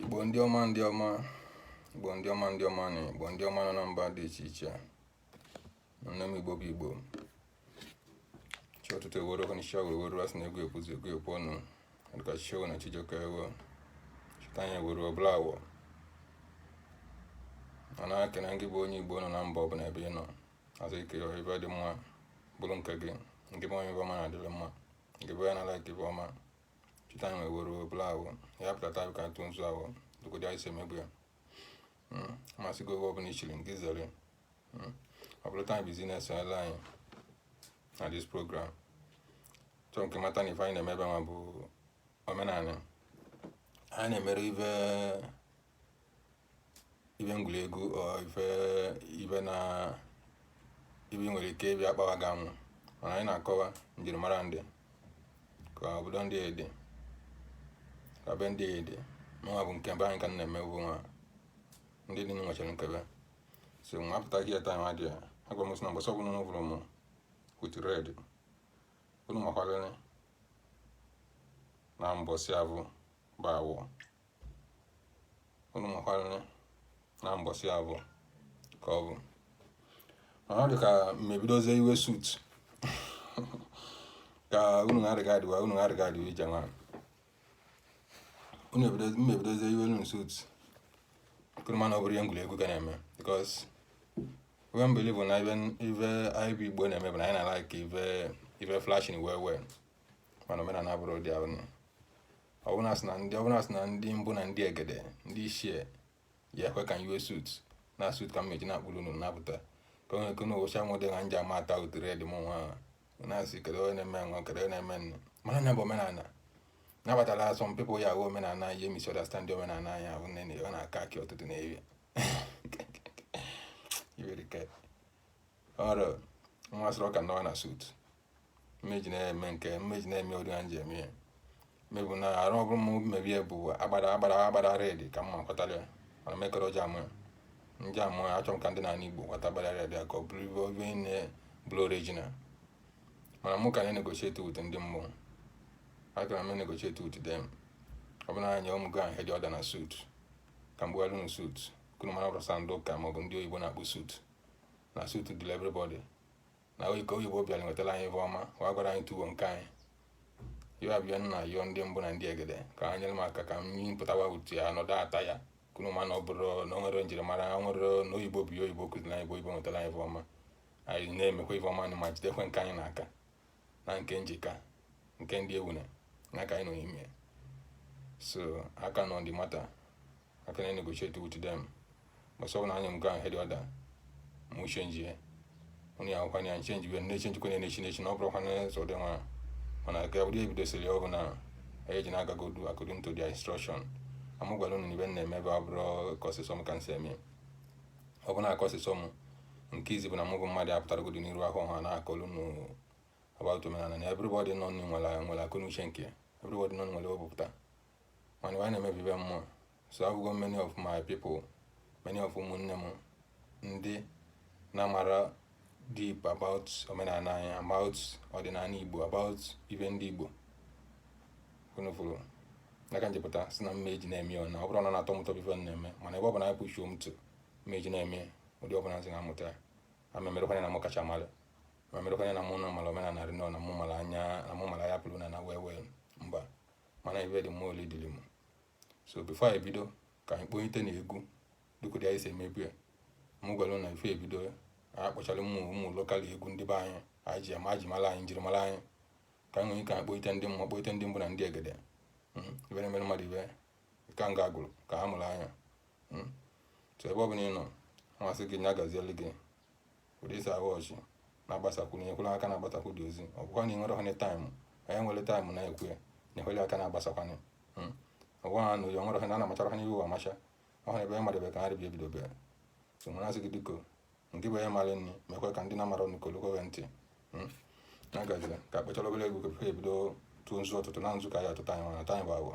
Igbo ndị ọma ndị ọma Igbo ndị ọma ndị ọma na Igbo ndị ọma nọ na mba dị iche iche nne m Igbo bụ Igbo chi ọtụtụ ewere ọkụ n'isi awere were asị na egwu ekwuzi egwu ekwu ọnụ dịka chichewo na chijioke ewo cheta anyị ewere ọbụla awọ m na-ekene gị bụ onye Igbo nọ na mba ọbụla ebe ị nọ asị ka ife dị mma bụrụ nke gị nke bụ onye ọma na-adịrị mma nke bụ ya na-like ife ọma cheta na ewere obere ahụ ya pụtata ka ntụ nzu ahụ dogodo anyị si emegbu ya hmm, masị gị oge ọbụla ichiri nke zere hmm, ọ bụrụ taa business ala anyị na this program achọ m ka ị mata na ife anyị na-eme ebe nwa bụ omenala anyị na-emere ife ife egwuregwu ife even na ife nwere ike ịbịa akpawa gị amụ mana anyị na-akọwa njirimara ndị ka obodo ndị dị ka be ndị dị mụnwa bụ nke be anyị ka m na-eme bụ nwa ndị dị nwechara nke be so nwa apụta gị taa nwa dị ya agwa m sị na mbọsị ọbụla unu vụrụ m with red unu makwarịrị na mbọsị ahụ bụ awọ unu makwara na mbọsị ahụ ka ọ bụ ma ọ dị ka m ebidozie i-wear suit ka unu na-adịga adịwa unu na-adịga adịwa ije nwa unu ebido- m ebidozie i-wear unu suit ka unu mara na ọ bụrọ ihe egwuregwu ka a na-eme because we believe na even ife anyị bụ Igbo na-eme bụ na anyị na-like ife ife flashing well well mana omenala abụrọ ụdị ahụ ọbụla sị na ndị ọbụla sị na ndị mbụ na ndị egede ndị ichie ya ekwe ka i-wear suit na suit ka mmeji na-akpụrụ unu napụta ka onye eke n'ụbọchị anwụ dị na nji ama ata ụtụ red m nwa na-asị kedu onye na-eme nwa kedu onye na-eme nne mana nya bụ omenala nabatara some people ya ahụ omenala ihe misunderstand omenala anyị ahụ nne na ọ na-aka akị ọtụtụ na eri ọrụ nwa sịrị ọka nọwa na suit mmeji na-eme nke mmeji na-eme ụdị ha ji eme ya mebụ na arụ ọbụrụ m maybe ya bụ agbada agbada agbada red ka mma kwatara ya mana mekọrọ ji amụ ya ndị amụ ya achọrọ m ka ndị na-ana igbo kwata agbada red ka ọ bụrụ ibe obe nne bụrụ original mana mụ ka na-enegotiate with ndị mmụọ akara m enegotiate with them ọ bụrụ na anyị ụmụ gị ahụ hedị ọda na suit ka mgbe alụ na suit ka unu mara ọ bụrọ sọ ndị ụka maọbụ ndị oyibo na-akpụ suit na suit dịlị everybody na ka oyibo bịara nwetara anyị ife ọma wee gwara anyị tufuo nke anyị ya bịa na-ayọ ndị mbụ na ndị egede ka ha nyere m aka ka m pụtawa utu ya nọdụ ata ya ka unu ma na ọ bụrụ na o nwere njirimara o nwere na oyibo bụ oyibo kụziri anyị bụ oyibo nwetara anyị ife ọma anyị na-emekwa ife ọma anyị ma jidekwe nke anyị n'aka na nke njika nke ndị ewune na ka anyị nọ n'ime so aka nọ ndị mata aka na-negotiate with them but so na anya m go ahead either m change ya onye ya nkwa ya nchenji wee na-echenji kwenye na-echi na-echi na ọ bụrụkwa na ụzọ dị mma mana ka ụdị e bidosiri ọ bụ na anyị ji na-agagodu according to their instruction mụ gwara unu ife na-eme ebe ọ bụrọ ka o si sọ m ka m si eme ọ bụ na ka o si sọ m nke izizi bụ na mụ bụ mmadụ apụtaragodu n'iru ọha na-akọlu unu about omenala na everybody nọ nụ nwere nwere akọnuche nke everybody nọ nwere o bu pụta mana ife a na-eme bụ ife mmụọ so afụgo many of my people many of ụmụnne m ndị na-amara deep about omenala anyị about ọdịnala igbo about ife ndị igbo unu fụrụ na ka m ji pụta sị na mma eji na-eme ọ na ọ bụrụ na na-atọ m ụtọ bụ ife na-eme mana ebe ọ bụ na anyị pụchuo m tụ mma eji na-eme ụdị ọbụla m si na-amụta ya ma memerekwanye na mụ kacha mara ma merekwanye na mụ na mara omenala rinne na mụ mara anya na mụ mara ya pụrụ na na wee wee mba mana ife dị mma oli dịrị m so before anyị bido ka anyị kpọnyite na egwu dịka ụdị anyị si emebu ya m gwara na before e bido a kpọchara ụmụ ụmụ local egwu ndị be anyị anyị ji ama ji mara anyị njirimara anyị ka anyị nwere ike anyị kpọnyite ndị mmụọ kpọnyite ndị mbụ na ndị egede hmm, ife na-emere mmadụ ife ka m ga-agụrụ ka ha mụrụ anya hmm. so ebe ọ bụla ị nọ m asị gị nya gazielu gị ụdị i si ahụ ọchị na-agbasakwu na-ekwere aka na-agbasakwu dị ozi ọ bụkwa na ị nwere hone time onye nwere time na-ekwu ya na ekwele aka na-agbasakwanụ hmm. ọgwa ha na ụjọ nwere hone na-amachara ha n'ihu amacha ọhụrụ ebe mmadụ ebe ka ha rịbi ebido bịa so nwere asị gị biko nke bụ onye mara nri mekwe ka ndị na-amara ọnụ kolokwe ntị hmm. na gaziri ka a kpọchara obere egwu ka e bido tụọ nzu ọtụtụ na nzu ka ya atụta anyị mana time bụ agwọ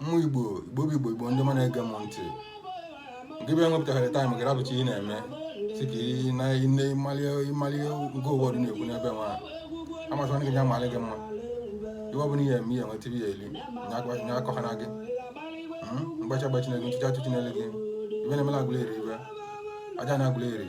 ụmụ igbo igbo bụ igbo igbo ndị ọma na-ege m ntị gị bịa nwepụtagharị time gị rapụcha ihe na-eme sị ka ị nene ịmalie ịmalie nke ụwa dị na-ekwu n'ebe nwa m asịkwa gị ya malị gị mma ife ọ bụla ihe eme ihe nweta ihe eli nya akọhana gị mgbachi agbachina gị ntụchi atụchinali gị ife na-emela agụla eri ife aja na agụla eri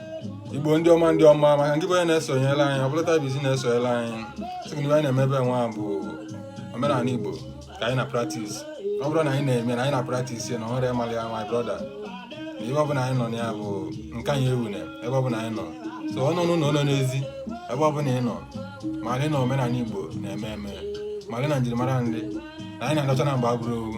igbo ndị ọma ndị ọma maka nke bụ onye na-esonyere anyị ọ bụlụ taa bụ isi na-esonyere anyị sị gị na anyị na-emebe nwa bụ omenala igbo ka anyị na practice ọ bụrụ na anyị na-eme na anyị na practice ya na ọhụrụ ịmalị ya my brother na ebe ọbụla anyị nọ na ya bụ nke anyị ewune ebe ọbụla anyị nọ so ọ nọ n'ụlọ nọ n'ezi ebe ọbụla ị nọ malị na omenala igbo na-eme eme malị na njirimara ndị na anyị na-anọcha na mgbe agbụrụ owu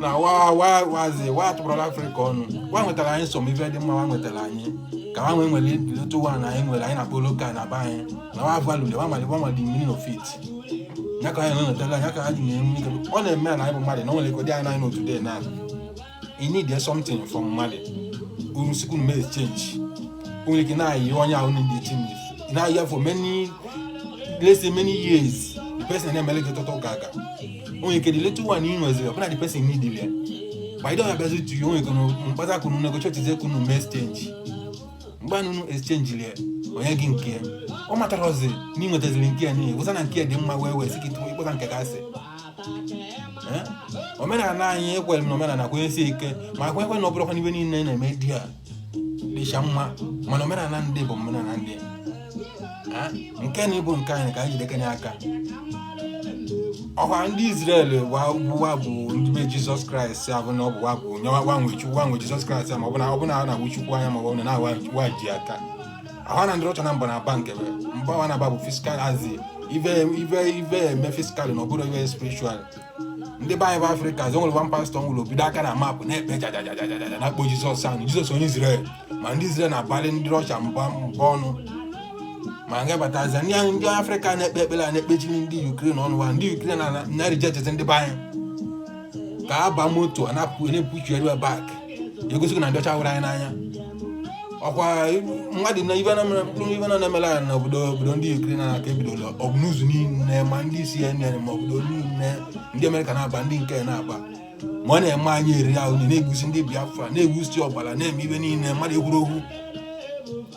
na wa wa wazi wa tụbụrọla afrịka ọnụ wa nwetara anyị some ife dị mma wa nwetara anyị ka ha nwee nwere otu wa na anyị nwere anyị na-akpọ local na be anyị na wa valule wa mali wa mali meaning of it ya ka anyị na-enwetara ya ka ha ji na-enwe ike ọ na-eme na anyị bụ mmadụ na o nwere ike dị anyị n'anyị na today na ị need something from mmadụ unu sị kunu mee exchange nwere ike na-ayị onye ahụ na-exchange ị na-ayị ya for many let's say many years the person na-emele gị tọtọ ụka aga o nwere ike the little one ị nweziri ọbụna the person need ya by the way abịazi to you o nwere ike mkpata kunu negotiatezi kunu mee exchange mgbe ahụ unu exchange lie o nye gị nke ya ọ matarazi na ị nwetaziri nke ya niile wụsa na nke ya dị mma wee wee sị gị tụwa ịkpọta nke gasị Eh? omenala anyị ekwere m na omenala kwenyesi ike ma kwe ekwe na ọ bụrụkwa na ive niile na-eme di a dịcha mma mana omenala ndị bụ omenala ndị eh? nke na ịbụ nke anyị ka anyị jidekanye aka ọkwa ndị Izrel wa bụ ndị be Jizọs Kraịst a bụ na ọ bụ wa bụ nyewa gbanwe Chukwu gbanwe Jizọs Kraịst ma ọ bụ na ọ bụ na na-awụ Chukwu anya ma ọ bụ na na wa ji aka ahụ na ndị Russia na mba na-aba nke bụ mba wa na-aba bụ physical as in ive ive ive eme physical na ọ bụrọ ive spiritual ndị be anyị bụ afrịka zọ nwere one pastor nwụrụ obido aka na map na-ekpe jajajajajaja na-akpọ jizọs ahụ jizọs onye izrel ma ndị izrel na-abalị ndị Russia mba mba ọnụ ma nga batazi ndị anyị ndị afrịka na-ekpe ekpere a na-ekpechiri ndị Ukraine ọnụ wa ndị Ukraine na na-rejectzi ndị be anyị ka a ba moto a na-apụ na-epushili wa back egosigo na ndị ọcha hụrọ anyị n'anya ọkwa mmadụ na ive ive na na-emela anyị n'obodo obodo ndị Ukraine na aka ebidola ọbụ news niile ma ndị CNN ma obodo niile ndị Amerịka na-aba ndị nke na-aba ma ọ na-eme anyị eri ahụ na-egbusi ndị Biafra na-egbusi ọbara na-eme ive niile mmadụ ekwuro okwu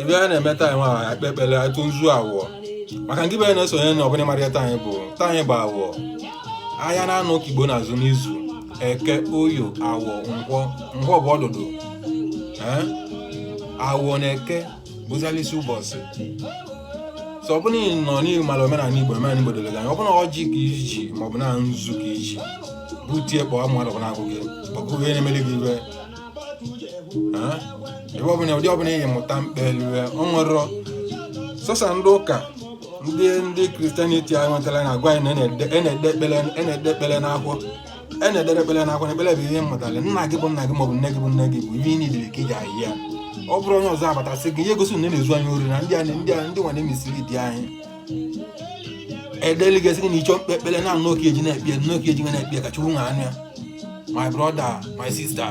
ive a na-eme taa nwa akpa ekpere atụ nzu awọ maka nke bụ ị na-esonye na ọ bụ na ị marọ taa anyị bụ taa anyị bụ awọ ahịa naanọ ka igbo na-azụ n'izu eke oyo awọ nkwọ nkwọ bụ ọdụdụ ee awọ na eke bụza n'isi ụbọchị so ọ bụrụ na ị nọ na ị mara omenala igbo omenala igbo doro gị anya ọ bụrụ na ọjị ka i ji ma ọ bụ na nzu ka i ji butie kpọọ mmadụ bụ na-agụ gị agụụ ihe na-emere gị iwe Ah, ebe ọbụla ụdị ọbụla ị mụta mkpelu ya ọ wụrọ sọsọ ndị ụka ndị ndị Christianity a nwetara na-agwa anyị na a na-ede a na-ede ekpere a na-ede ekpere n'akwụkwọ e na-edere ekpere n'akwụkwọ na ekpere bụ ihe ị mụtara nna gị bụ nna gị maọbụ nne gị bụ nne gị bụ ihe ị nidere ka ị ji ahịa ọ bụrụ onye ọzọ abata sị gị ihe gosi na ị na-ezu anyị ori na ndị anyị ndị anyị ndị nwa na-emesiri di anyị edeli gị sị gị na ị chọọ ikpe ekpere na nnọọ ka eji na-ekpe nnọọ ka eji na-ekpe ka chukwu wee nụ ya my brother my sister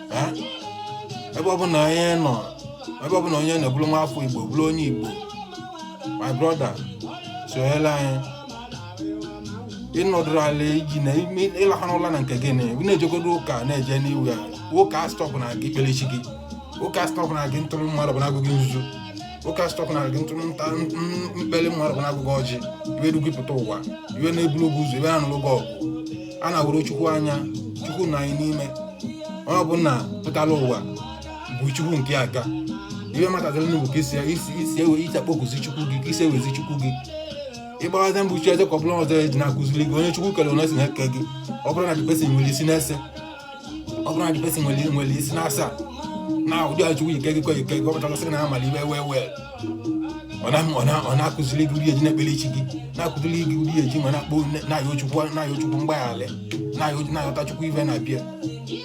Eh? ebe ọbụla onye nọ ebe ọbụla onye nọ bụrụ nwa afọ igbo bụrụ onye igbo my brother sonyere anyị ị nọdụrụ ala iji na ime ịlaha n'ụla na nke gị na ị na-ejegodo ụka na-eje n'iwu ya ụka astọpụna gị ikpele chi gị ụka astọpụna gị ịtụrụ mmadụ bụ na agwụ gị nzu ụka astọpụna gị ntụrụ nta mkpeli mmadụ bụ na agwụ gị ọjị ive du gị pụta ụwa ive na-ebulu gị ụzọ ive na-anụrụ gị ọgụ a na-ahụrọ chukwu anya chukwu nọ anyị n'ime onye ọbụla pụtara ụwa bụ chukwu nke aka ya ihe m na-akụziri unu bụ ka isi isi ewe isi akpọkụzi chukwu gị ka ị si ayọzi chukwu gị mgbaghara mbụ chi eze ka ọbụla ọzọ eji na-akụziri gị onye chukwu kere onye si na-eke gị ọ bụrụ na this person nwere isi n'ise ọ bụrụ na this person nwere nwere isi n'asaa na ụdị a chukwu si kee gị ka o si kee gị ọ pụtara sị na amala ive wee wee ọ na-akụziri gị ụdị eji na-ekpere chi gị na-akụziri gị ụdị eji ma na-akpọ na-ayọ chukwu na-ayọ chukwu mgbaghara na-ayọta chukwu ive na-abịa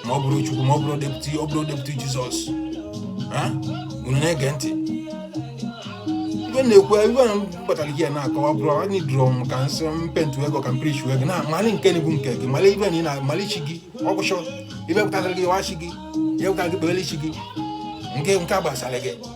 m abụrọ chukwu m abụrọ deputy abụrọ deputy jizọs unu na-ege ntị ive m na-ekwu ive kpatara m ji ya na-akọwa bụrụ anyị dụrụ m ka m si mpentụ ego ka m preach ego na mali nke bụ nke gị mali ive na ị na-amali chi gị ọ gwụcha ive pụtara gị yọọ chi gị ihe pụtara gị kpeere chi gị nke nke a gbasara gị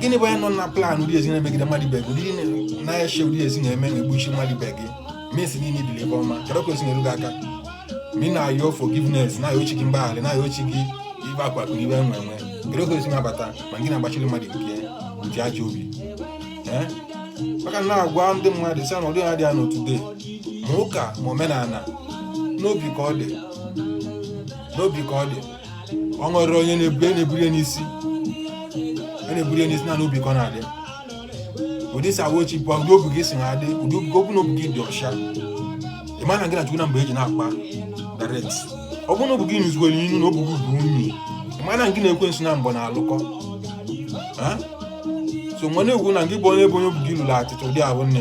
gịnị bụ ya nọ na plan ụdị e si na-emegide mmadụ ibe gị ụdị na-eche ụdị e si na-eme na-egbuchi mmadụ ibe gị mesi niile ibili ive ọma kedu ka o si na-eru gị aka ma ị na-ayọ forgiveness na-ayọ chi gị mgbaghara na-ayọ chi gị ive akụ akụ ive enwe enwe kedu ka o si na-abata ma gị na-agbachiri mmadụ nke nke ajọ obi ee maka na agwa ndị mmadụ sị na ụdị ha dị ya n'ụwa today ma ụka ma omenala n'obi ka ọ dị n'obi ka ọ dị o nwerọ onye na-ebuli a na-ebuli ya n'isi a na-ebuli ya n'isi na n'obi ka ọ na-adị ụdị e si ayọ chi bụ ụdị obi gị si na-adị ụdị obi ọ bụrụ na obi gị dị ọcha ị ma na gị na chukwu na mgbe eji na-akpa direct ọ bụrụ na obi gị lụzikwara unyi na obi gị bụ unyi ị ma na gị na ekwensu na mgbe na-alụkọ Ha? so nwa na-ekwu na gị bụ onye bụ onye obi gị lụrụ atịtị ụdị ahụ nne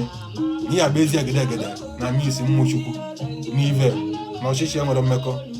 na ihe agba ezi egede egede na misi mmụọ chukwu na ive na ọchịchịrị enwerọ mmekọ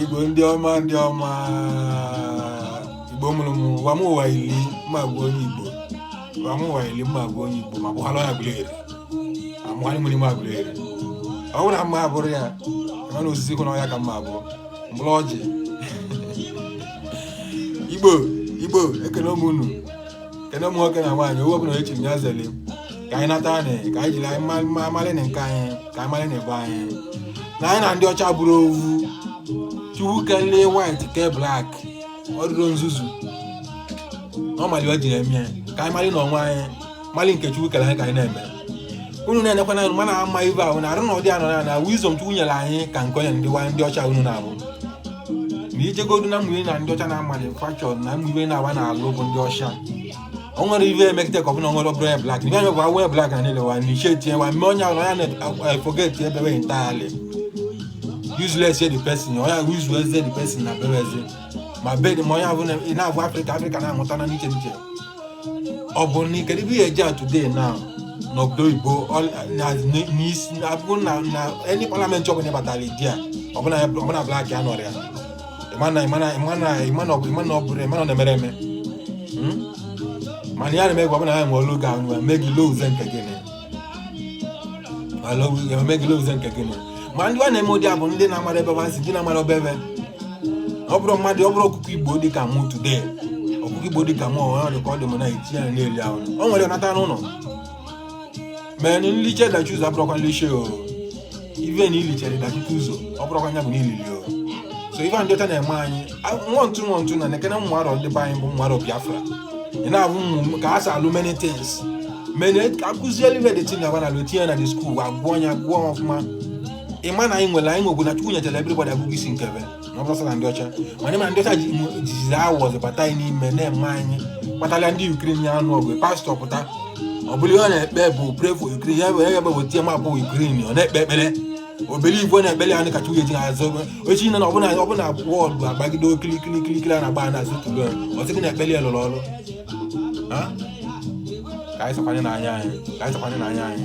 igbo ndị ọma ndị ọma igbo mụrụ m ụwa m ụwa ili m ga-abụ onye igbo ụwa m ụwa ili m ga-abụ onye igbo ma gbụhala ya Aguleri ma mụgharị mmiri ma Aguleri ọ bụrụ na m ga-abụrụ ya ebe na osisi kwụ na ọhịa ka m bụrụ mkpụrụ ọjị igbo igbo ekene mụ unu kene ụmụ nwoke na nwaanyị onye ọbụla echiri ya zeli ka anyị nata anị ka anyị jiri anyị ma- ma- amalị na nke anyị ka anyị malị na ebe anyị na anyị na ndị ọcha abụrọ ovu chukwu kelee white kee black ọ dịrọ nzuzu ọ mali o jiri eme ya ka anyị mali onwe anyị mali nke chukwu kere anyị ka anyị na-eme unu na-enekwa na mana ama ibe ahụ na arụ na ụdị anọ na na wisdom chukwu nyere anyị ka nke onye ndị wa- ndị ọcha unu na-avụ na ijegodu na mgbe na ndị ọcha na-amalị fashion na mgbe na-agba n'alụ bụ ndị ọcha o nwere ive emekite ka ọ bụla nwere ọbụrụ onye black ibe anya gwa onye black na niile wa na iche tinye wa mme onye ahụ ya na-eforget ebe we entirely useless the person onye ahụ useless the person na bere eze ma bed ma onye ahụ na-abụ africa africa na-amụta na n'iche n'iche ọ bụ na ikere ibe ya eji a today now n'obodo oyibo n'isi abụrụ na na any parliament ọbụla ịbatara there ọ bụ na black ya nọrọ ya ị ma na ọ na-emere eme mana ya na-eme gwa ọbụla ya nwere oge ahụ mee gị lose nke gị na mee gị lose nke gị ma ma ndị a na-eme ụdị a bụ ndị na-amarọ ebe wa si ndị na-amarọ be ve ọ bụrụ mmadụ ọ bụrụ ọkụkọ igbo dị ka mụ today ọkụkọ igbo dị ka mụ ọ dị ka ọ dị m na eti ya na-eli ahụ o nwere nata n'ụlọ mee nliche dachie ụzọ abụrọkwa nliche o ive na ilichere dachie ụzọ ọ bụrọkwa nya bụ na ilili o so ive ndị ọcha na-eme anyị nwa ntụ nwa ntụ na nekene ụmụ arọ ndị be anyị bụ ụmụ arọ biafra ị na-avụ ụmụaka a sa alụ many things mene akụzielu ive dị tin na ba na alụ tinye na the school agụọ ya agụọ ọfụma ị ma na anyị nwere anyị nwegwu na chukwu nyetara everybody agụgụ isi nke ve ọ bụrọ na ndị ọcha mana ịma ndị ọcha jizi awụwọ zọbata anyị n'ime na-eme anyị kpatara ndị ukraine na-anụ ọgụ pastọ pụta ọ bụrụ ihe ọ na-ekpe bụ pray for ukraine ya bụ ya bụ wetie map ukraine ọ na-ekpe ekpere obere igwe na-ekpere ya kacha uye ji na azụ echi na ọbụla ọbụla wọdụ agbagide okirikiri kirikiri a na-agba na azụ tụrụ ọ sị gị na ekpere ya lụrụ ọrụ ka anyị sakwanye n'anya anyị ka anyị sakwanye n'anya anyị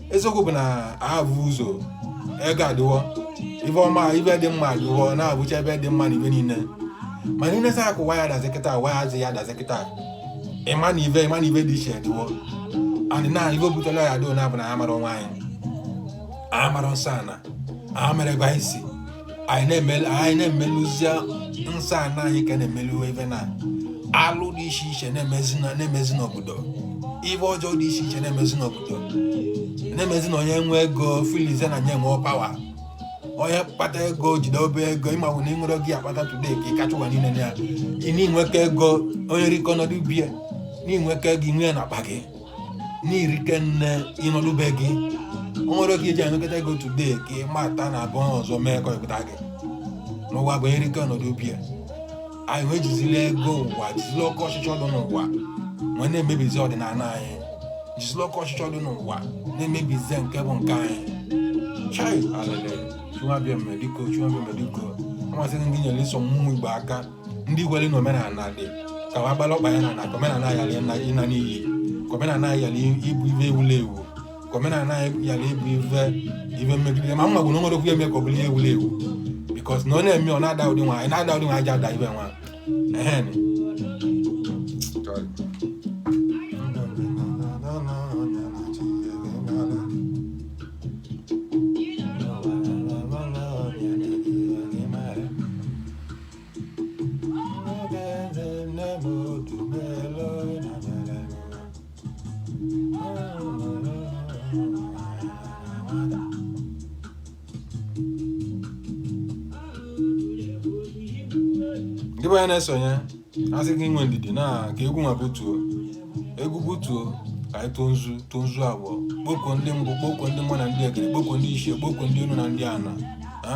eziokwu bụ na avụ ụzọ ego adịwo ive ọma ive dị mma adịwo na-avụcha ive dị mma na ive niile mana ị nesia ka ụwa ya dazi kịta ụwa azị ya dazi kịta ịma na ive ịma na ive dị iche adịwo adị na ive butela ya adịo na-abụ na amarọ onwe anyị amarọ nsọ ana amarọ ebe anyị si anyị na-emelu anyị na-emeluzia nsọ ana anyị ka na-emelu ive na alụ dị iche iche na-emezi na- na-emezi n'obodo ive ọjọọ dị iche iche na-emezi n'obodo na-emezi na onye nwe ego feelizie na nya nwe power onye kpata ego jide obele ego ịmawụ na ịṅụrụ gị akpata today ka ị kacha ụwa niile na ya ị na-enweka ego onye rikọ nọdụ bie na-enweka ego inwe ya na akpa gị na i rike nne ị nọdụ be gị o nwere oge i ji enwekọta ego today ka ị mata na abụọ ọzọ mee ka ọ kpọta gị n'ụwa bụ e rike ọ nọdụ be ya anyị ejizila ego ụwa jizila oke ọchịchọ dị n'ụwa wee na-emebizi ọdịnala anyị jizila oke ọchịchọ dị n'ụwa na-emebizi nke bụ nke anyị chai alele chụwa bịa mmediko chụwa bịa mmediko amasịghị ndị nyere ịsọ mmụọ igbo aka ndị kwere na omenala dị ka wa gbara ọkpa ya na na ka omenala yara ịna ịna n'iyi ka omenala yara ịbụ ife ewula ewu ka omenala yara ịbụ ife ife mmegide ma mma bụ na o nwere okwu eme ka ọ bụrụ ihe ewula ewu bikos na ọ na-eme ọ na-ada ụdị nwa na-ada ụdị nwa aja ada ife nwa ehen ndị be anyị na-esonye a sị gị nwee ndidi na ka egwu nwa butuo egwu butuo ka anyị tụọ nzu tụọ nzu abụọ kpọkuo ndị mbụ kpọkuo ndị mbụ na ndị egede kpọkuo ndị ichie kpọkuo ndị enu na ndị ana ha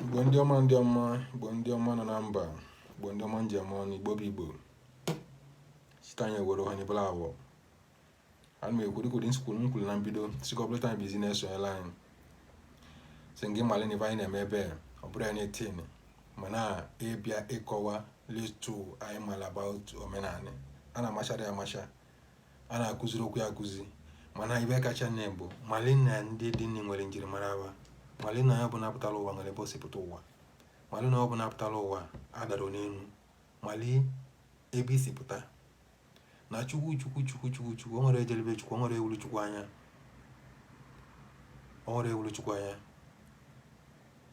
igbo ndị ọma ndị ọma igbo ndị ọma nọ na mba igbo ndị ọma ndeme nụ igbo bụ igbo site anyị were onye bụla awọ ana m ekwu dị ka ụdị m si kwuru m kwuru na mbido sikọpụleta anyị bizi na-esonyela anyị sị gị malị na ife anyị na-eme ebe ọ bụrọ anything mana ịbịa ịkọwa little anyị mara about omenala a na-amachara ya amacha a na-akụziri okwu ya akụzi mana ife kacha nne bụ mali na ndị dị nne nwere njirimara wa mali na onye ọbụla pụtara ụwa nwere ebe o si pụta ụwa mali na onye ọbụla pụtara ụwa adarọ n'enu mali ebe i si pụta na chukwu chukwu chukwu chukwu chukwu o nwerọ e jele be chukwu o nwerọ e wụlụ chukwu anya o nwerọ e wụlụ chukwu anya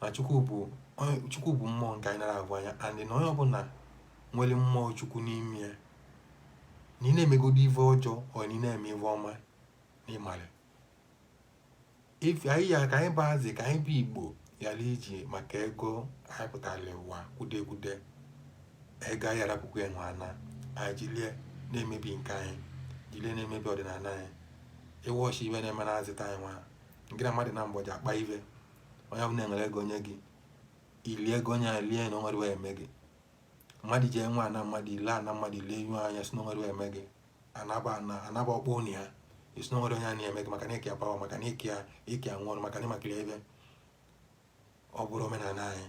na chukwu bụ onye- chukwu bụ mmụọ nke anyị nara ahụ anya and na onye ọbụla nwere mmụọ chukwu n'ime ya na ị na-emegodo ife ọjọọ ọ na ị na-eme ife ọma na ịmara ife anyị ya ka anyị bụ azị ka anyị bụ igbo ghara iji maka ego anyị pụtara ụwa kwude kwude ego anyị arapụkwa ya nwana anyị jilie na-emebi nke anyị jilie na-emebi ọdịnala anyị ịwọchi ife na-eme na azịta anyị nwa nke na mmadụ na mgbọji akpa ife onye ọbụla nwere ego onye gị ilie ego onye a lie na o nwerọ eme gị mmadụ ji enwe ana mmadụ i lee ana mmadụ i lee ihu anya sị na o nwerọ eme gị anaba ana anaba ọkpọ ụnụ ya ị sị na o nwerọ onye a na-eme gị maka na ịkịa power maka na ịkịa ịkịa nwụrụ maka na ịmakiri ebe ọ bụrọ omenala anyị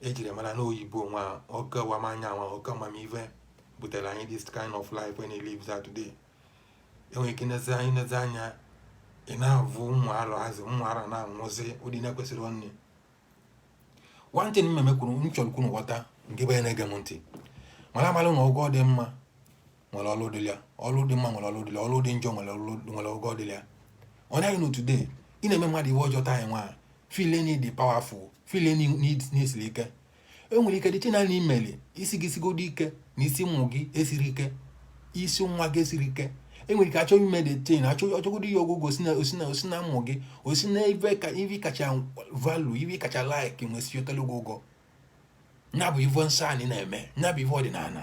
ejiri mara na oyibo nwa oke wa m anya nwa oke amamive butere anyị this kind of life when he lives out today enwere ike nezi anya ị na-avụ ụmụ arọ azị ụmụ arọ na-anwụzi ụdị na-ekwesịrọ ọnwụ one thing mmemme kwuru m chọrọ ka unu ghọta nke bụ na-ege m ntị mara amara na ụgwọ dị mma nwere ọrụ dịrị ya ọrụ dị mma nwere ọrụ dịrị ya ọrụ dị njọ nwere ọrụ nwere ụgwọ dịrị ya ọ naghị na today ị na-eme mmadụ ive ọjọọ taa nwa feel na ị dị powerful feel any need na-esiri ike e nwere ike dịche naanị imeli isi gị sigodo ike na isi ụmụ gị esirọ ike isi nwa gị esirọ ike e nwere ike achọ ime the thing achọ ọchọgodo ihe ọgwụgwọ o si na o si na o si na ụmụ gị o si na ive ka ive ị kacha value ive ị kacha like nwesi otele ụgwọ ụgwọ ya bụ ive nsọ anyị na-eme ya bụ ive ọdịnala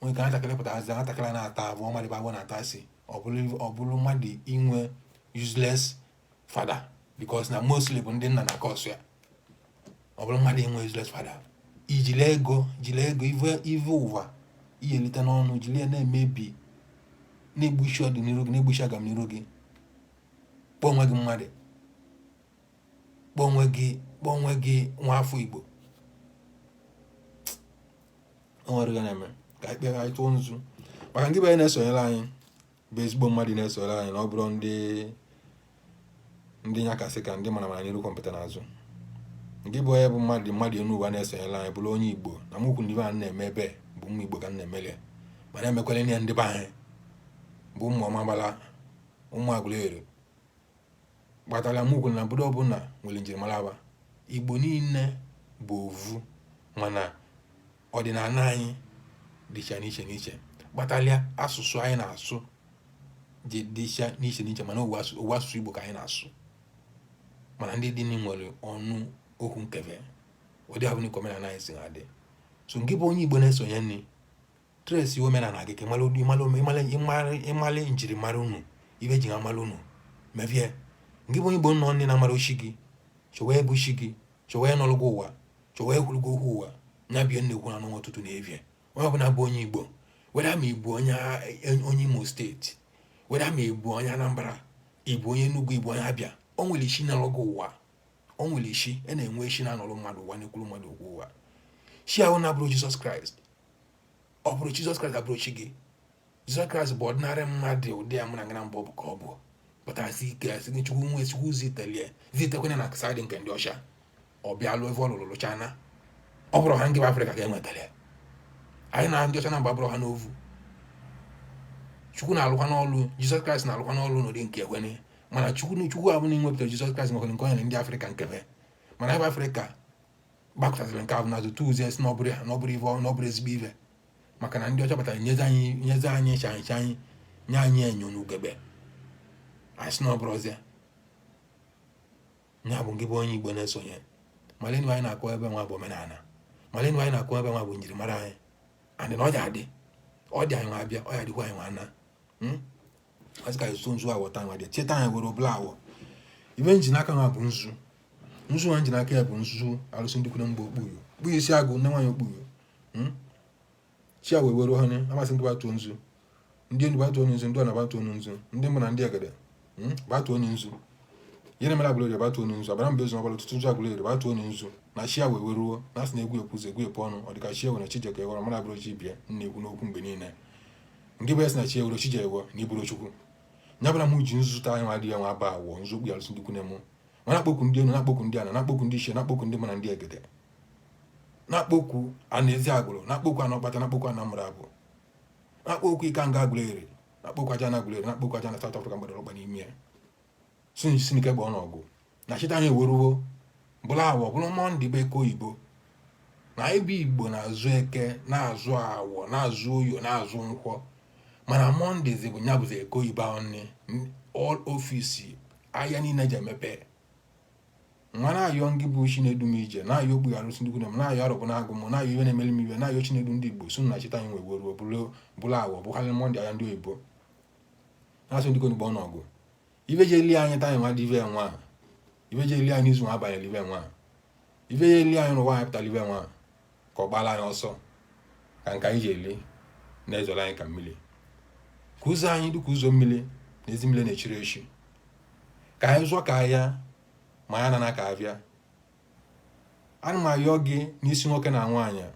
nwere ike nwatakịrị pụtazi nwatakịrị na-ata abụ ọmadịba abụ na-ata asị ọ bụrụ mmadụ inwe useless father because na mostly bụ ndị nna na-cause ya ọ bụrụ mmadụ inwe useless father i jile ego i jile ego ive ụwa ihe elite n'ọnụ jiri ya na-emebi na-egbuchi ọdịnihu gị na-egbuchi agamnihu gị kpọọ onwe gị mmadụ kpọọ onwe gị kpọọ onwe gị nwa afọ igbo o nwere ihe na-eme ka anyị kpere anyị tụọ nzu maka ndị be anyị na-esonyere anyị bụ ezigbo mmadụ na-esonyere anyị na ọ bụrọ ndị ndị nyakasị ka ndị mma mma n'iru gwompiti n'azụ nke bụ onye bụ mmadụ mmadụ enu ụwa na-esonyere anyị bụrụ onye igbo na mokwu ndị be anyị na-eme ebe bụ ụmụ igbo ka m na-emeli ya mana emekwala ihe ndị be anyị bụ ụmụ ọmabala ụmụ agụleri kpatara m kwuru na obodo ọbụla nwere njirimara va igbo niile bụ ovu mana ọdịnala anyị dịcha n'iche n'iche kpatalị ya asụsụ anyị na-asụ ji dịcha n'iche n'iche mana ovu asụsụ igbo ka anyị na-asụ mana ndị ndị nwere ọnụ okwu nke ve ụdị avụ ka omenala anyị si na-adị so nke bụ onye igbo na-esonyere anyị trace omenala gị ka ị mara njirimara unu ive e ji mara unu meve ya ngị bụ igbo nọ nne na-amarọ chi gị chọwa ebe chi gị chọwa ịnọlụ gị ụwa chọwa ekwuru gị okwu ụwa nya bie nnekwu anụ ọtụtụ na evie onye ọbụla bụ onye igbo whether ma ị bụ onye a- onye imo state whether ma ị bụ onye anambra ị bụ onye enugwu ị bụ onye abịa o nwere chi nọlụ gị ụwa o nwere chi a na-enwe chi na-anọlụ mmadụ ụwa na-ekwuru mmadụ okwu ụwa chi ahụ na-abụrọ jizọs kraịst ọ bụrọ Jizọs Kraịst ga-abụrụ chi gị Jizọs Kraịst bụ ordinary mmadụ ụdị ya mụ na ngana mbụ bụ ka ọ bụ pụta asị ike asị gị chukwu nwa chukwu zitelie zitekwanye na side nke ndị ọcha ọ bịa lụọ ebe ọ lụrụ lụchana ọ bụrụ ha nke bụ afrịka ka e nwetara anyị na ndị ọcha na mgba bụrụ ha n'ovu chukwu na-alụkwanụ ọlụ jizọs kraịst na-alụkwanụ ọlụ n'ụdị nke ekwene mana chukwu na chukwu avụ nwepụtara jizọs kraịst nwekwara nke o nyere ndị afrịka nke ve mana ebe afrịka gbakụtaziri nke ahụ na azụ tuuzi e sị na ọ bụrọ ya na ọ bụrọ ife ọ- na ọ bụrọ ezigbo ife maka na ndị ọcha batara nyezi anyị nyezi anyị chaịcha anyị nye anyị enyo na ugegbe anyị sị na ọ bụrọzị ya ya bụ nke bụ onye igbo na-esonye malenu anyị na-akọ ebe nwa bụ omenana malenu anyị na-akọ ebe nwa bụ njirimara anyị andị na ọ ya-adị ọ dị anyị nwa abịa ọ ya-adịkwa anyị nwa ana asị ka so nzu awọ taa nwa dị chi taa anyị weruo bụla awọ ife m ji n'aka nwa bụ nzu nzu nwa m ji n'aka ya bụ nzu arụsị ndị ikwunne m bụ okpuyo kpuyo isi agụ nne nwaanyị okpuyo hmm? chi a wee were ọhụrụ amasị ndị batuo nzu ndị enu batuo nzu ndị ana batuo nzu ndị mbụ na ndị egede hmm? batuo nzu eri mụrụ agụleri batuo nzu agbanabo ezu ọgbara otutunzu agụleri batuo nzu na chi a wee weruo na asị na egwu ekwuzi egwu epe ọnụ ọ dịka chi a were chijioke ghọrọ mara abụrụ chi bịa na-ekwu n'okwu mgbe niile nke bụ ya si na chi ewuro chi ji ewo na ị bụrọ chukwu nya bụ na m ji nzu taa nwa dị ya nwa bụ awọ nzu okpu alụsị ndị ikwunne mụ ma na-akpọku ndị enu na-akpọku ndị ana na-akpọku ndị ichie na-akpọku ndị mbụ na ndị egede na-akpọku ana eziagụlụ na-akpọku ana ọkpata na-akpọku ana mụrụ abụ na-akpọku ikenga agụleri na-akpọku ajana agụleri na-akpọku ajana South Africa m gbadoro ọkpa n'ime ya so njisi n'ike gba ọnọgụ na chi taa anyị eweruo bụla awọ bụrụ mọnde bụ eke oyibo na ebe igbo na-azụ eke na-azụ awọ na-azụ oye na-azụ nkwọ mana mọnde bụ nya bụzi eke oyibo ahụ nne all office ahịa niile je emepe nwa na-ayọ ngị bụ chi na-edu m ije na-ayọ okpu arụsị ndị ikwunne m na-ayọ arọbịnagụ m na-ayọ ife na-emeli m ife na-ayọ chi na-edu ndị igbo sị na chi taa anyị wee ruo bụrụ awọ bụkarị mọnde ahịa ndị oyibo na-azụ ndị konigbo ọnọgụ ife ji eli anyị taa nwa dị ife nwa ahụ ife ji eli anyị izu nwa abanyela ife nwa ahụ ife ji eli anyị n'ụwa anyị pụtara ife nwa ahụ ka ọ gbala anyị ọsọ ka nke anyị ji eli na-ezoro anyị ka mmiri ka ụzọ anyị dịka ụzọ mmiri na ezi mmiri na-echiri echi ka anyị zụọ ka ahịa ma anyị anana ka ahịa ana m ayọ gị n'isi nwoke na nwaanyị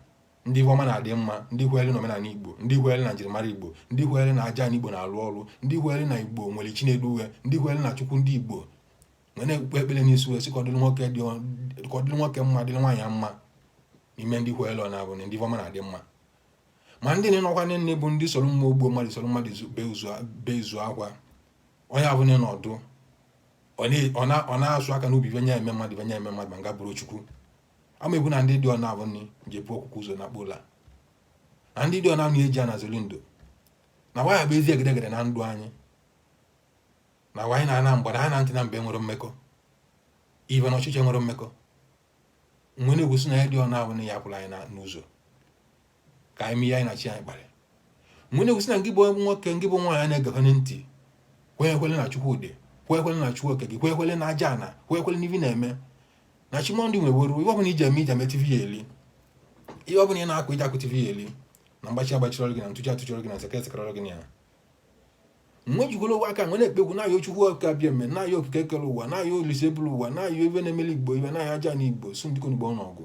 ndị ife ọma na-adị mma ndị kweere na omenana igbo ndị kweere na njirimara igbo ndị kweere na ajana igbo na-alụ ọrụ ndị kweere na igbo nwere chi na-edu we ndị kweere na chukwu ndị igbo m wee kpee ekpere n'isi we sị ka ọ dịrị nwoke dị ka ọ dịrị nwoke mma dịrị nwaanyị mma n'ime ndị kweere ọ na-abụ na ndị ife ọma na-adị mma ma ndị na-enọkwa nne nne bụ ndị soro mmadụ gbuo mmadụ soro mmadụ bezie akwa onye abụla na ọdụ ọ na-asụ aka n'obi ife nya eme mmadụ ife nya eme mmadụ ma ngị abụrọ chukwu ama egwu na ndị dị ọna abụ ndị je-ebu ọkụkọ ụzọ nakpuo ụla na ndị dị ọna abụ eji anazoli ndụ na waya bụ ezi egedegede na ndụ anyị na wanyị na-ana mgbe na anyị na ntị na mbe nwerọ mmekọ ife na ọchịchị nwerọ mmekọ m wee na-ekwu sị na ya dị ọna abụ na ya pụrụ anyị n'ụzọ ka anyị mee ihe anyị na chi anyị kpara wee na-ekwusi na ngị bụ nwoke ngị bụ nwaanyị na-egekwe ntị kwenyekwele na chukwu dị kwenyekwele na chukwu oke gị kwenyekwele na aja ana kwenyekwele n'ive ị na-eme na chimondị nweworo ihe ọbụla iji eme iji emete ive ị ya eli ihe ọbụla ị na-akụ iji akụte ive ị ya eli na mgbachi agbachirọrọ gị na ntụchi atụchirọrọ gị na sekere sekerọrọ gị na ya wee jigoro ụwa aka wee na-ekpeku na-ayọ chukwu oke abịama na-ayọ okike kere ụwa na-ayọ olisa buru ụwa na-ayọ ive na-emeli igbo ive na-ayọ aja ana igbo su ndịkọ n'igbo ọnụ ọgụ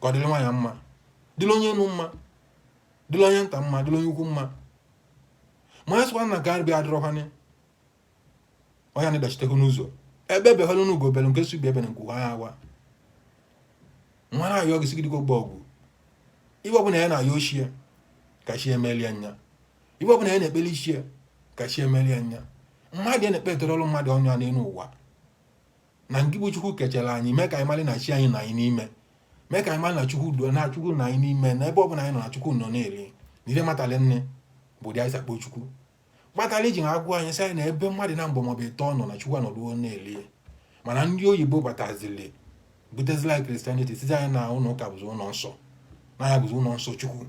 ka ọ dịrị nwaanyị mma dịrị onye enu mma dịrị onye nta mma dịrị onye ukwu mma ma ya sịkwa na nke arịbịa adịrọkwana onye na dachitehu n'ụzọ egbe behelu na ugo bere nke sị ibe ebena nku kwaa ya wee na-ayọ gị sị gị biko gba ọgwụ ive ọbụla ya na-ayọ chi ya ka chi ya melie nya ive ọbụla ya na-ekpeli chi ya ka chi ya melie nya mmadụ ya na-ekpe etere ọrụ mmadụ ọnụ ya n'elu ụwa na ngị bụ chukwu kechara anyị mee ka anyị mara na chi anyị nọ anyị n'ime mee ka anyị mara na chukwu dị na chukwu nọ anyị n'ime na ebe ọ bụla anyị nọ na chukwu nọ na-eri na ire matara nne bụ ụdị anyị si akpọ chukwu kpatara iji na-agwa anyị sị anyị na ebe mmadụ naabọ maọbụ ịtọ nọ na chukwu anọduo na-eri mana ndị oyibo batazili butezila christianity sizie anyị na ụlọ ụka bụzi ụlọ nsọ na ya bụzi ụlọ nsọ chukwu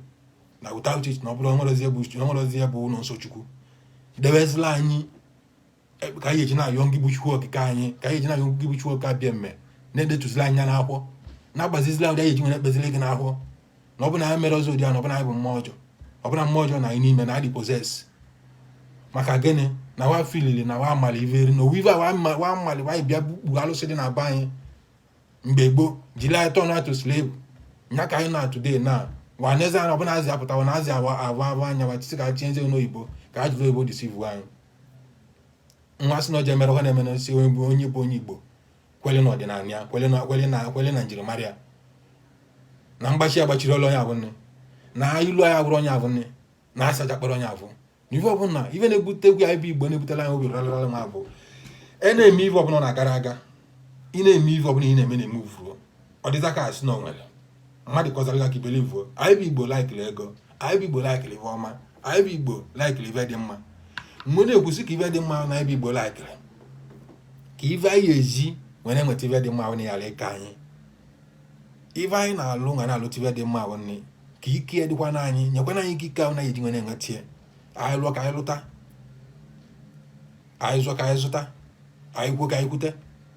na without it na ọ bụrụ o nwerọzi ebe bụ o nwerọzi ebe bụ ụlọ nsọ chukwu dewezila anyị e, ka anyị eji na-ayọ ngị bụ Chukwu okike anyị ka anyị eji na-ayọ ngị bụ Chukwu abịama na-edetuzili anyị n'akwụkwọ na-agbazizila ụdị anyị eji were ekpezili gị n'akwụkwọ na ọ bụ na ya mere ọzọ ụdị a na ọ bụ na anyị bụ mmụọ ọjọọ ọ bụ na mmụọ ọjọọ nọ anyị n'ime na anyị dị possessed maka gịnị na wa filili na wa amali iveri na ọ wụ ive wa mali wa bịa kpughe alụsị dị na be anyị mgbe gboo jiri anyị turn to slave nya ka anyị nọ today na wa n'eze anyị ọbụla azị apụtawa na azị awawa anya wa chisi ka anyị tinyezie n'oyibo ka e jiri oyibo deceive anyị wee sị na o ji emere ha na-eme n'osi onye bụ onye bụ onye igbo kwele na ọdịnala ya kwele na kwele na kwele na njirimara ya na mgbachi agbachirọlụ onye avụ nne na ilu anyị abụrụ onye avụ nne na asaja kpọrọ onye avụ na ife ọbụla ife na-ebute egwu anyị bụ igbo na-ebutela anyị obi rarara ma ọ bụ ị na-eme ife ọbụla na-agara aga ị na-eme ife ọbụla ị na-eme na-eme uvuo ọ dịza ka a sị na o nwere mmadụ kọzara ka i believe anyị bụ igbo laikiri ego anyị bụ igbo laikiri ife ọma anyị bụ igbo laikiri ife dị mma wee na-ekwusi ka ife dị mma na anyị bụ igbo laikiri ka ife anyị eji were nweta ife dị mma ahụ na yara ike anyị ife anyị na-alụ na na-alụta ife dị mma ahụ nne ka ike ya dịkwa n'anyị nyekwana anyị ike ike ahụ na-eji were enweta ya anyị lụọ ka anyị lụta anyị zụọ ka anyị zụta anyị kwuo ka anyị kwuta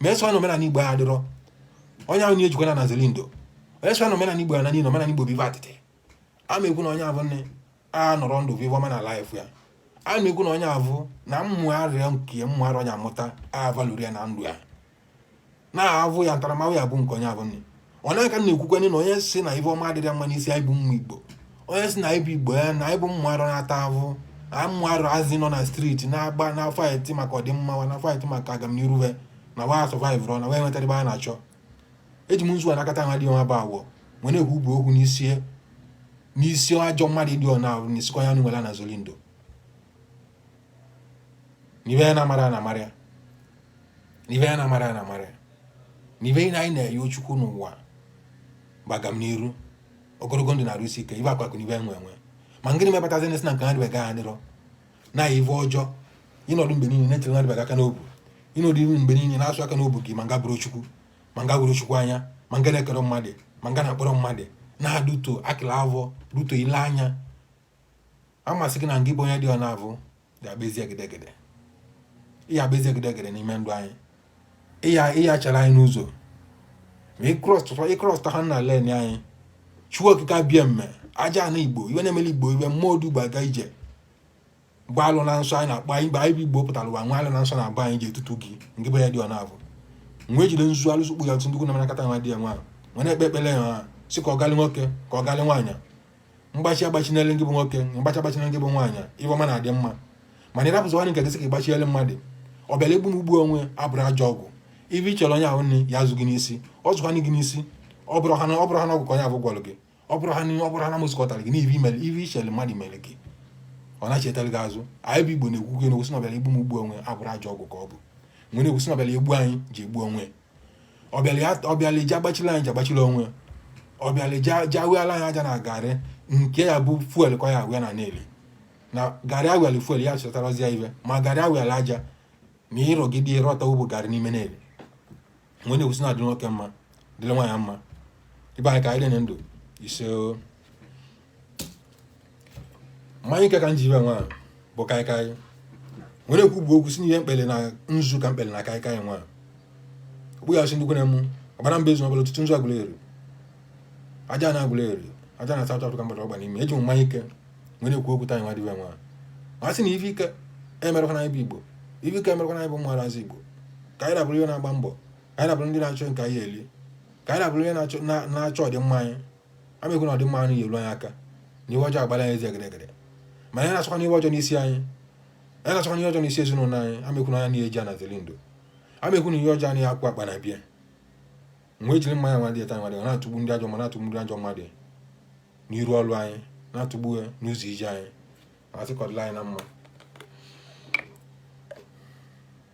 ma e sị na omenala igbo adịrọ onye ahụ ya ejikwana ana zeli ndo onye sị na omenala igbo ana niile omenala igbo bụ ive atịtị a ma ekwu na onye avụ nne anọrọ ndụ vụ ive ọma na life ya a na-ekwu na onye avụ na mmụ arịa nke mmụ arịa onye amụta avalụri ya na ndụ ya na-avụ ya ntaramahụhụ ya bụ nke onye avụ nne onye aka na-ekwukwanye na onye si na ive ọma adịrị mma n'isi anyị bụ ụmụ igbo onye si na anyị bụ igbo ya na anyị bụ ụmụ arọ na-ata ahụ na ụmụ arazị nọ na striti na-agba na faịtị maka ọdịmma wa na faịtị maka agamniru wa na wa sọvaịvụrụ na wa enwetara ebe a na-achọ eji m nzu a nakọta nwa dị ọma bụ awọ wee na-ekwu bụ okwu n'isi n'isi ajọ mmadụ dị ọna ahụ na isikwa ya nụ nwere na zolindo n'ive anyị na-amara a na-amara ya n'ive anyị na-amara a na-amara ya n'ive anyị na-ayọ Chukwu n'ụwa bụ agamniru ogologo ndụ na arụ isi ike ive akụ akụ n'ive enwe enwe ma ngịnị mepụtazi ndị si na nke ha dịbega ha dịrọ na ive ọjọọ ịnọdụ mgbe niile na-etere na dịbega aka n'obu ịnọdụ mgbe niile na-asụ aka n'obu gị ma ngị abụrọ Chukwu ma ngị avụrọ Chukwu anya ma ngị na-ekerọ mmadụ ma ngị na-akpụrọ mmadụ na-adụto akịla avọ duto ile anya a m asị gị na ngị bụ onye dị ọna avụ ga-agba ezi egedegede ịya agba ezi egedegede n'ime ndụ anyị ịya ịya chara anyị n'ụzọ ma ịkrọsụta ha na len anyị Chukwu okike abịama ajana igbo ive na-emeli igbo ive mmụọ odu gba aga ije gba alụ na nsọ anyị na-akpọ anyị mgbe anyị bụ igbo pụtara ụwa nwa alụ na nsọ na-agba anyị ji etutu gị ngị bụ onye dị ọna avụ wee jide nzu alụsụ kpụ ya tụ ndụkwụ na manakata nwa dị ya nwa wee na-ekpe ekpele ya ha si ka ọ galị nwoke ka ọ galị nwaanyị mgbachi agbachinele gị bụ nwoke mgbachi agbachinele gị bụ nwaanyị ive ọma na-adị mma mana ịrapụzi nwanne nke gị sị ka ịgbachiele mmadụ ọ bịara egbu m gbuo onwe abụrọ ajọ ọgwụ ive ị chere onye ahụ na ọ ya-azụ gị n'isi ọ zụkwana gị n'isi ọ bụrọ ha na ọ bụrọ ha na ọgwụ ka onye ahụ gwọrọ gị ọ bụrọ ha na ọ bụrọ ha na mmụọ zụkọtara gị n'ive imere ive ichere mmadụ mere gị ọ na-echetara gị azụ anyị bụ igbo na-ekwu gị na-ekwusi na ọbịara igbu m gbuo onwe abụrọ ajọ ọgwụ ka ọ bụ wee na-ekwusi na ọbịara egbu anyị ji egbu onwe ọ bịara ya- ọ bịara ije agbachila anyị ji agbachila onwe ya. ọ bịara ije awịala anyị aja na garị nke ya bụ fuel ka ya awịa na na-eli na garị awịala fuel ya chọtarazi ya ive ma garị awịala aja na ịrọgide ịrọta ụbụ garị n'ime na-eli wee na-ekwusi na ọ dịrị nwoke mma dịrị nwaanyị mma ibe anyị ka anyị dị na ndụ ise o. mmanya ike ka m ji ive nwa bụ kaikai wee na-ekwu bụ okwu si n'ihe m kpere na nzu ka m kpere na kaikai nwa okpu ya si ndị kwere mụ ọbara mba ezu ọbụla ọtụtụ nzu Agụleri ajana Agụleri ajana South Africa mgbada ọgba n'ime eji m mmanya ike wee na-ekwu okwu tanyị nwa dịbe nwa ma sị na ife ike emerekwana anyị bụ igbo ife ike emerekwana anyị bụ ụmụ arazị igbo ka anyị na-abụrụ ndị na-agba mbọ ka anyị na-abụrụ ndị na-achọ nke anyị eli ka anyị na-abụrụ ndị na-achọ ọdịmma anyị amekwu na ọdịmma anyị ga-eru anyị aka na ive ọjọọ agbala anyị ezi egedegede ma anyị na-achọkwa n'ihe ọjọọ n'isi anyị anyị na-achọkwa n'ihe ọjọọ n'isi ezinụlọ anyị amekwu na anya na eji anazili ndụ amekwu na ihe ọjọọ anyị akwụ akpa na bịa wee jiri mmanya nwa dị eta nwa dị na-atụgbu ndị ajọ ma na-atụgbu ndị ajọ mmadụ n'iru ọrụ anyị na-atụgbu ya n'ụzọ ije anyị ma sị ka ọ dịla anyị na mma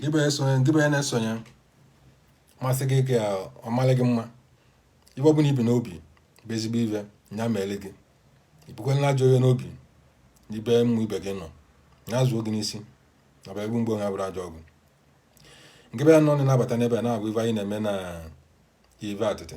gị bụ esonye gị bụ ya na-esonye masị gị ka ọ malị gị mma ive ọbụla i bu n'obi bụ ezigbo ive ya meele gị i bukwela na ajọ ive n'obi n'ebe mmadụ ibe gị nọ ya zuo gị n'isi na bụ egbu mgbe onye buru ajọ ọgwụ ngị bụ onye nọ na-abata n'ebe a na-agwa ive anyị na-eme na ive atịtị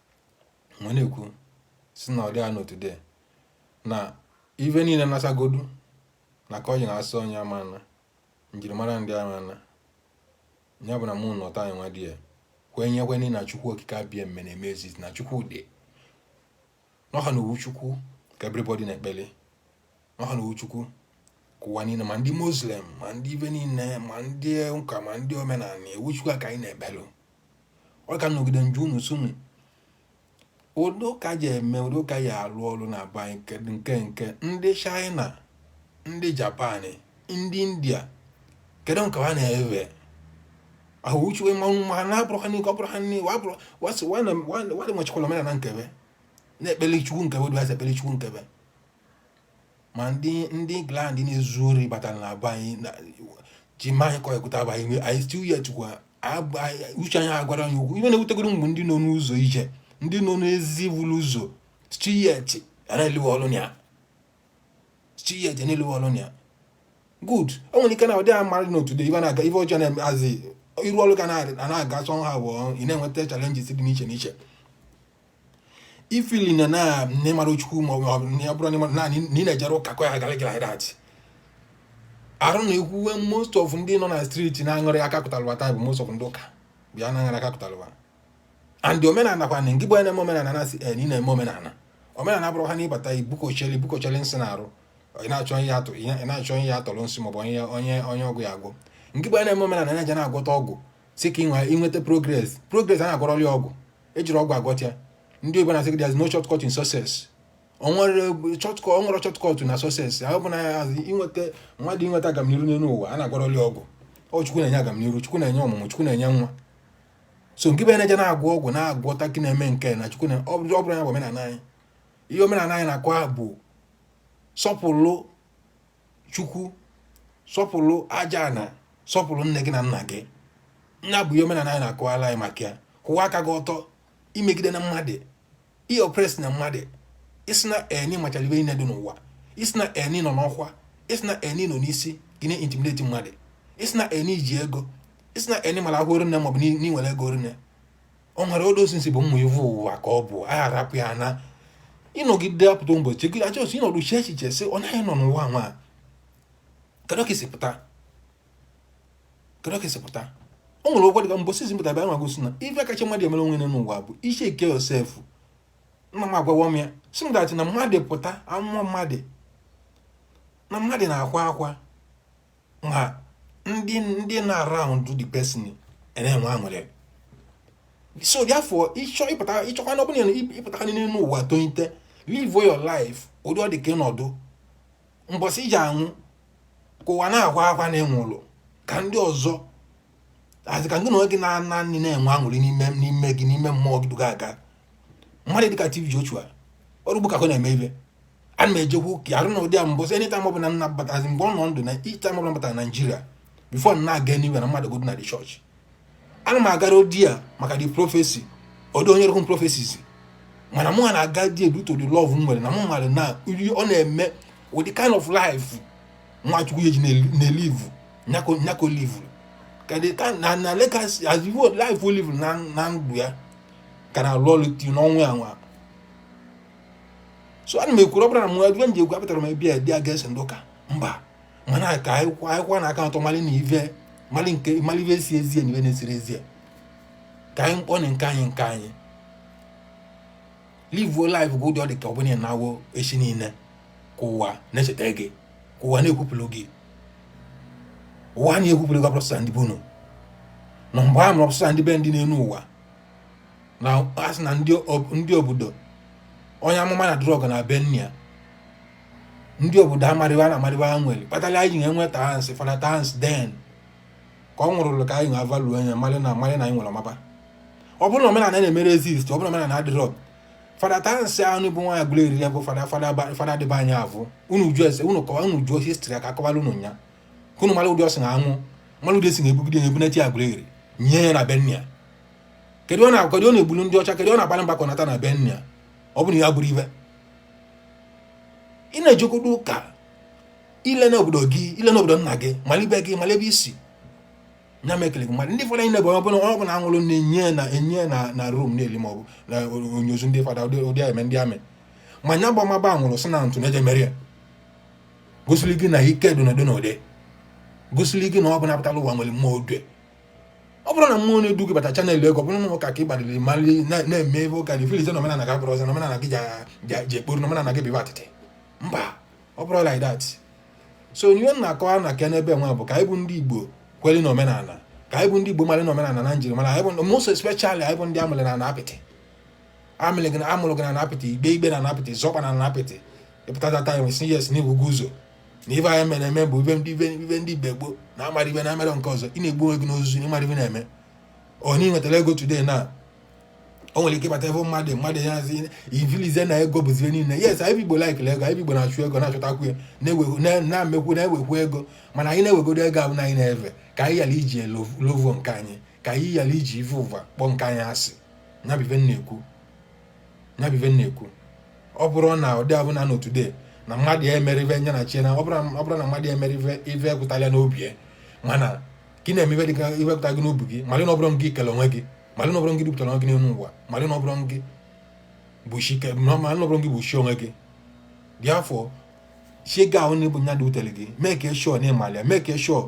ma na-ekwu sị na ọ dị anọ today na ive niile nasagodu na ka ọ ji na-asị onye ama na njirimara ndị ama na ya bụ na mụ na ụta nwa di ya kwenye kwenye na chukwu okike abịama na-eme ezizi na chukwu dị n'ọha na ovu chukwu ka everybody na-ekpele ọ ha na ovu chukwu ka ụwa niile ma ndị muslim ma ndị ive niile ma ndị ụka ma ndị omenala ovu chukwu ka anyị na-ekpelu ọ ka nọgide nju unu sunu ụdị ụka ji eme ụdị ụka ya alụ ọrụ na be anyị nke nke ndị china ndị japan ndị india kedu nke ha na-ewe ahụchuwe mmanwụ ma ha na-abụrụ ha n'ike ọ bụrụ ha n'iwe abụrụ wadị nwechikwala omenala nke be na-ekpeli chukwu nke be dịbasị ekpeli chukwu nke be ma ndị ndị England na-ezu ori batara na be anyị na- ji ma anyị kọrịkụta bụ anyị anyị still yet kwa ab- anyị- uche anyị agwara anyị okwu ive na-ewutegoro mgbe ndị nọ n'ụzọ ije ndị nọ n'ezi buru ụzọ still yet a na-elewe ọrụ na ya still yet a na-elewe ọrụ na ya good o nwere ike na ụdị a mmadụ na otude ive na-aga ive ọjọọ na-eme azị iru ọrụ ka na- a na-aga sọ ha abụọ ị na-enweta challenges dị n'iche n'iche i feel na na nne mara chukwu ma ọ bụ na ya bụrụ na naanị na ị na-ejere ụka ka ọ ya gara gị like that arụ na ekwuwe most of ndị nọ na street na-aṅụrị aka kụtalụwa taa bụ most of ndị ụka bịa na-aṅụrị aka kụtalụwa and omenala kwa ngị bụ onye na-eme omenala na-asị ị na-eme omenala omenala bụrụ ha na ịbata ibukocheli bukocheli nsị na arụ ị na-achọ ihe atụ ị na-achọ ihe atọrọ nsị maọbụ onye onye onye ọgwụ ya agwọ ngị bụ onye na-eme omenala na-eje na-agwọta ọgwụ si ka ị nweta progress progress a na-agwọrọli ọgwụ ejirọ ọgwụ agwọta ya ndị oyibo na-asị there's no shortcut in success o nwerọ shortcut o nwerọ shortcut na success ahụ bụ na inweta mmadụ inweta agamniru n'elu ụwa a na-agwọrọli ọgwụ ọ chukwu na-enye agamniru chukwu na-enye ọmụmụ chukwu na-enye nwa so ngị bụ na-eje na-agwọ ọgwụ na-agwọta ka ị na-eme nke na chukwu na ọ bụrụ ya bụ omenala anyị ihe omenala anyị na-akọ bụ sọpụrụ chukwu sọpụrụ ajana sọpụrụ nne gị na nna gị nya bụ ihe omenala anyị na-akọwara anyị maka ya kwụwa aka gị ọtọ i megidena mmadụ i oppress na mmadụ ị sịna na ị machara ive niile dị n'ụwa ị sịna na ị nọ n'ọkwa ị sịna na ị nọ n'isi gị na-intimidate mmadụ ị sịna na i ji ego ị sịna na ị mara ahụ rinne maọbụ n'i nwere ego rinne ọ mara odosinsi bụ mmụ ivu ụwa ka ọ bụ a arapụ ya na ịnọgide apụta ụbọchị gị a just ịnọdụ chee echiche sị ọ naghị nọ n'ụwa nwa kedu ka i si pụta kedu ka i si pụta o nwere ụgwọ dịka mbọsị i si pụta bịa nwa gosi na ife kacha mmadụ emere onwe ya n'ụwa bụ icheck yourself nna m agwawa m ya sị m that na mmadụ pụta a mụọ mmadụ na mmadụ na-akwa akwa ma ndị nọ around the person na-enwe aṅụrị so therefore ị chọkwa na ọ bụrụ na ị pụta n'elu ụwa try to live your life ụdị ọ dị ka ị nọdụ mbọsị i ji anwụ ka ụwa na-akwa akwa na ị nwụrụ ka ndị ọzọ asị ka gị na onwe gị na-ana nri na-enwe aṅụrị n'ime n'ime gị n'ime mmụọ gị duga aga mmadụ dịka TB Joshua ọrụ ugbo ka ọ na-eme ive ana m ejekwu ka arụ na ụdị a mbọsị anytime ọbụla nna batazi mgbe ọ nọ ndụ na each time ọbụla batara Naijiria before m na-aga anywhere na mmadụ godu na the church ana m agarọ there maka the prophecy although onye rụhụ prophecies mana mụ na-aga there due to the love m nwere na mụ mara na ọ na-eme with the kind of life nwa Chukwu e ji na-elivu nya ka o livuru na na legacy as ivo life o livuru na ndụ ya ka na-alụ ọlụ till n'ọnwụ ya nwa so ana m ekwuru ọ bụrọ na mụ ive m ji ekwu apụtarọ m ebe a ịdị against ndị ụka mba mana ka a kwụkwọnụ aka ọtọ mali na ive mali nke mali ive zi ezie na ive na-ezirọ ezie ka anyị kpọọnụ nke anyị nke anyị livuo life gị ụdị ọ dị ka ọ bụrụ na ị nwụọ echi niile ka ụwa na-echeta gị ka ụwa na-ekwupụrụ gị ụwa na-ekwupụrụ gị ọ bụrọ sọ ndị be unu n'ebe a mụrụ ọ bụrọ sọ ndị be ndị n'elu ụwa na a sị na ndị obodo onye amụma na adịrọ ugwu na be nna ya ndị obodo amarịwa na amarịwa nwere kpatara anyị ji na-enwe Tansi fada Tansi then ka ọ nwụrụlụ ka anyị ga-avalu anya mara na mara na anyị nwere ọmaba ọ bụrụ na omenala na-emerọ exist ọ bụrụ na omenala adịrọ fada Tansi ahụ bụ nwa Aguleri bụ fada fada dị be anyị avụ unu jụọ ese unu kọwa unu jụọ history ka a kọwala unu nya ka unu mara ụdị o si na anwụ mara ụdị e si na-ebugide ya ebunata Aguleri nie ya na be nna ya kedu ọ na-akọdị ọ na-egbulu ndị ọcha kedu ọ na-agbalị mbọ ka ọ nata na be nna ya ọ bụrụ ya bụrụ ive ị na-ejekwudo ụka i lee n'obodo gị i lee n'obodo nna gị mali be gị mali ebe i si nya mekele gị mmadụ ndị ụfọdụ anyị na-ebe onye ọbụla ọbụla anwụrụ na-enye na enye na na rum na-eli maọbụ na onyozu ndị fada ụdị eme ndị amị ma nya gbamaba anwụrụ sị na ntụ na-eje mere ya gosiri gị na ike dị n'ụdị n'ụdị gosiri gị na ọ bụ na ị pụtala ụwa nwere mmụọ odue ọ bụrụ na mmụọ na-edu gị bata channel ego ọ bụrụ na ụka ka ị gbaliri mali na-eme ive ụka na ị feelizie na omenala gị abụrụ ọzọ na omenala gị ji ekporo na omenala gị bụ ive atịtị mba ọ bụrọ like that so ihe m na-akọwa na aka n'ebe nwa bụ ka anyị bụ ndị igbo kweli na omenala ka anyị bụ ndị igbo mara na omenala na njirimara anyị bụ most especially anyị bụ ndị amụrụ na apịtị amụrụ gị na amụrụ gị na apịtị igbe igbe na apịtị zọkwa na apịtị ịpụtatata ya nwesị yes na ibugo ụzọ na ife anyị mere eme bụ ife ndị ife ndị igbo gboo na amarọ ife na amarọ nke ọzọ ị na-egbu onwe gị n'ozuzu na ịmarọ ife na-eme onye nwetara ego today na o nwere ike ịbata ebe mmadụ mmadụ ya zi ivilize na ego bụzi ihe niile yes anyị igbo like ego anyị igbo na-achụ ego na-achọtakwu ya na-ewe- na- na-emekwu na-ewekwu ego mana anyị na-ewegodo ego ahụ na anyị na-efe ka anyị ghara iji elo- lovo nke anyị ka anyị ghara iji ife ụva kpọọ nke anyị asị nya bụ ive m na-ekwu nya bụ ive m na-ekwu ọ bụrọ na ụdị ahụ na today na mmadụ ya emere ife nya na chie na ọ bụrụ na- ọ bụrụ na mmadụ ya emere ife ife ekwụtala n'obi ya mana ka ị na-eme ife dịka ife pụta gị n'obi gị malị na ọ bụrọ ngị kele onwe gị malụ na ọ bụrọ gị dupụtara gị n'elu ụwa malụ na ọ bụrọ gị bụ chi ka malụ na ọ bụrọ gị bụ chi onwe gị therefore chi gị ahụ na ọ bụ nya dutere gị make sure na ịmalị ya make sure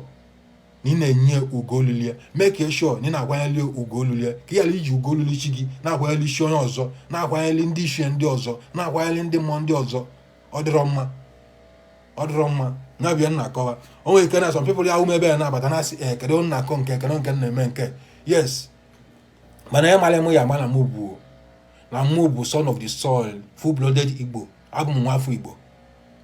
na ị na-enye ugwu lulu ya make sure na ị na-akwanyeli ugwu lulu ya ka ị ghara iji ugwu lulu chi gị na-akwanyeli chi onye ọzọ na-akwanyeli ndị ichie ndị ọzọ na-akwanyeli ndị mmụọ ndị ọzọ ọ dịrọ mma ọ dịrọ mma nya bụ ya m na-akọwa o nwere ike na some people ya ume ebe ya na-abata na asị eh, kedu nna akọ nke kedu nke m na-eme nke yes mana ya mara m ya ma na mụ bụ na mụ bụ son of the soil full blooded igbo abụ m nwa afọ igbo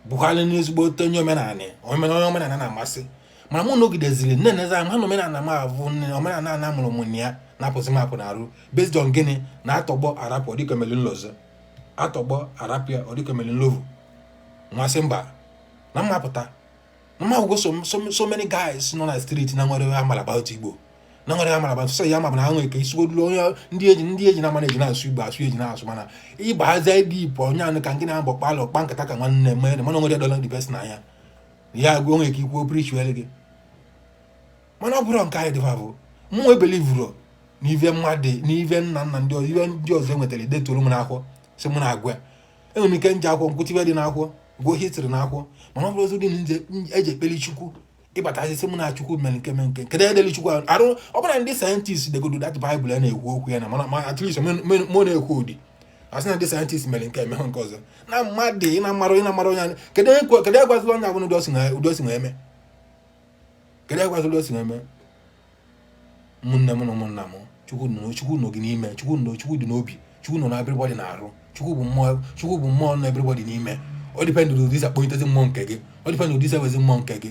bụkwala ezigbote onye omenala omenala onye omenala na-amasị mana mụ nọgideziri na-enezi anya na omenala m ahụ nne omenala a na amụrụ m na ya na-apụzi m apụ n'arụ based on gịnị na atọgbọ arapụ ọ dị ka o meli nlozo atọgbọ arapịa ọ dị ka o meli nlovu nmasị mba na mmapụta na mmagwụgo so many guys nọ na street na nwere amala about igbo na nwere amala about sị ya ma bụ na ha nwere ike isigodulu onye ndị eji ndị eji na mana eji na-asụ igbo asụ eji na-asụ mana ịgba aza ebe ipo onye anụ ka nke na-abọ kpalụ kpa nkata ka nwanne mere mana nwere dọla ndị best na anya ya agwa onwe ka ikwuo preachiere gị mana ọ bụrụ nke anyị dịfa bụ mụ ebelieveurọ n'ive mmadụ n'ive nna nna ndị ọzọ ive ndị ọzọ enwetara detoro m n'akwụkwọ sị mụ na-agwa enwere m ike nje akwụkwọ m gụta ive dị n'akwụkwọ gụọ history n'akwụkwọ mana ọ bụrọzi ụdị na nje eji ekpeli chukwu ịbata asịzị mụ na chukwu mere nke mere nke kedu edeli chukwu ahụ arụ ọ bụrọ ndị scientist degodo that bible ya na-ekwu okwu ya na mana ma at least mụ na-ekwu ụdị asị na ndị scientist mere nke emehụ nke ọzọ na mmadụ ị na-amara ị na-amara onye anya kedu egwazila onye ahụ na ụdị o si eme kedu egwazila o si eme ụmụnne m na ụmụnna m chukwu nọ chukwu nọ gị n'ime chukwu nọ chukwu dị n'obi chukwu nọ na everybody n'arụ chukwu bụ mmụọ chukwu bụ mmụọ nọ everybody n'ime ọ depend ụdị i si akpọtezi mmụọ nke gị ọ depend ụdị i si ewezi mmụọ nke gị